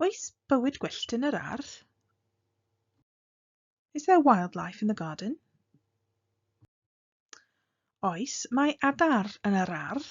Oes bywyd gwyllt yn yr ardd? Is there wildlife in the garden? Oes, mae adar yn yr ardd.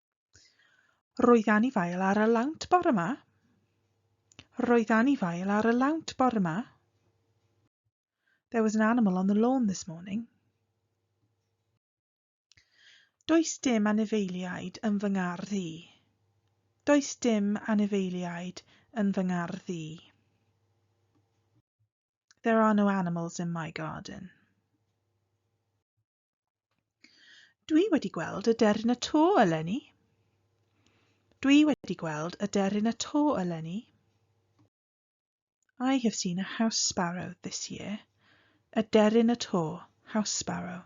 Roedd anifail ar y lawnt bore ma. Roedd anifail ar y lawnt bore ma. There was an animal on the lawn this morning. Does dim anifeiliaid yn fy ngardd i. Does dim anifeiliaid yn fy ngardd i. There are no animals in my garden. Dwi wedi gweld y deryn y to eleni. Dwi wedi gweld y deryn y to eleni. I have seen a house sparrow this year. Y deryn y to, house sparrow.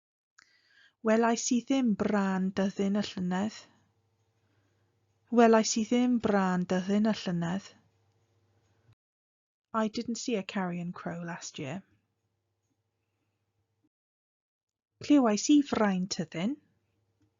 Welais i ddim brân dyddyn y llynedd. Welais i ddim brân dyddyn y llynedd. I didn't see a carrion crow last year. Clywais i frain tyddyn.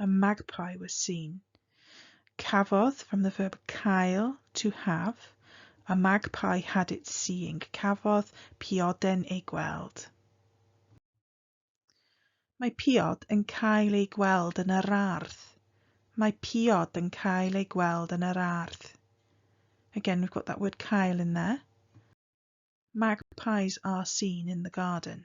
A magpie was seen. Cafodd, from the verb cael, to have. A magpie had it seeing. Cafodd pioden ei gweld. Mae piod yn cael ei gweld yn yr ardd. Mae piod yn cael ei gweld yn yr ardd. Again, we've got that word cael in there. Magpies are seen in the garden.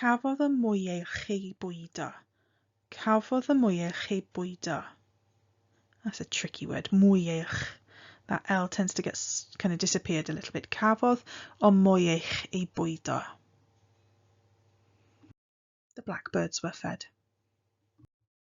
Cafodd y mwyach ei bwydo. Cafodd y mwyach ei bwydo. That's a tricky word. Mwyach. That L tends to get kind of disappeared a little bit. Cafodd o mwyach ei bwydo. The blackbirds were fed.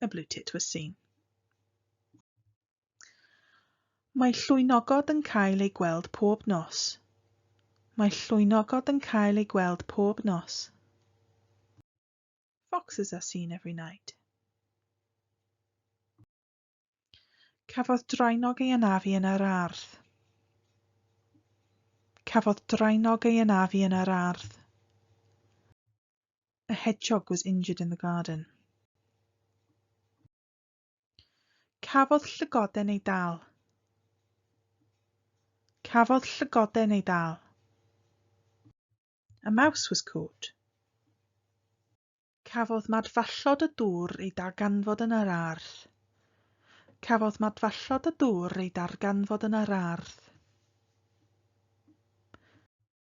y Blue Tit was seen. Mae llwynogod yn cael ei gweld pob nos. Mae llwynogod yn cael ei gweld pob nos. Foxes are seen every night. Cafodd drainog ei anafu yn yr ardd. Cafodd drainog ei anafu yn yr ardd. A hedgehog was injured in the garden. Cafodd llygoden ei dal. Cafodd llygoden ei dal. A mouse was caught. Cafodd madfallod y dŵr ei darganfod yn yr ardd. Cafodd madfallod y dŵr ei darganfod yn yr ardd.